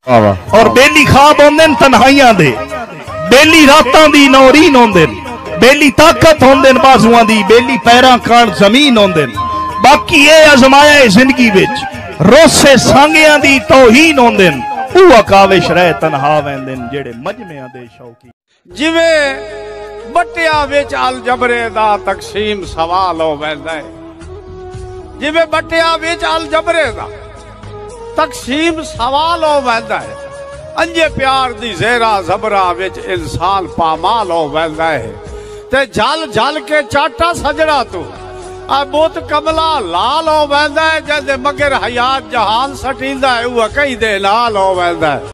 اور بیلی خواب ہوندے تنہائیاں دے بیلی راتاں دی نورین ہوندے بیلی طاقت ہوندے بازواں دی بیلی پیراں کان زمین ہوندے باقی اے ازمایا اے زندگی وچ روسے سانگیاں دی توہین ہوندے او اکاوش رہ تنہا ویندے جڑے مجمعیاں دے شوقی جیویں بٹیا وچ الجبرے دا تقسیم سوال ہو ویندا ہے جیویں بٹیا وچ الجبرے دا تقسیم سوال ہو ویندا ہے انجے پیار دی زیرا زبرا وچ انسان پامال ہو ویندا ہے تے جھل جھل کے چاٹا سجڑا تو اے بوت کملا لال ہو ویندا ہے جے مگر حیات جہان سٹیندا ہے او کہیں دے لال ہو ویندا ہے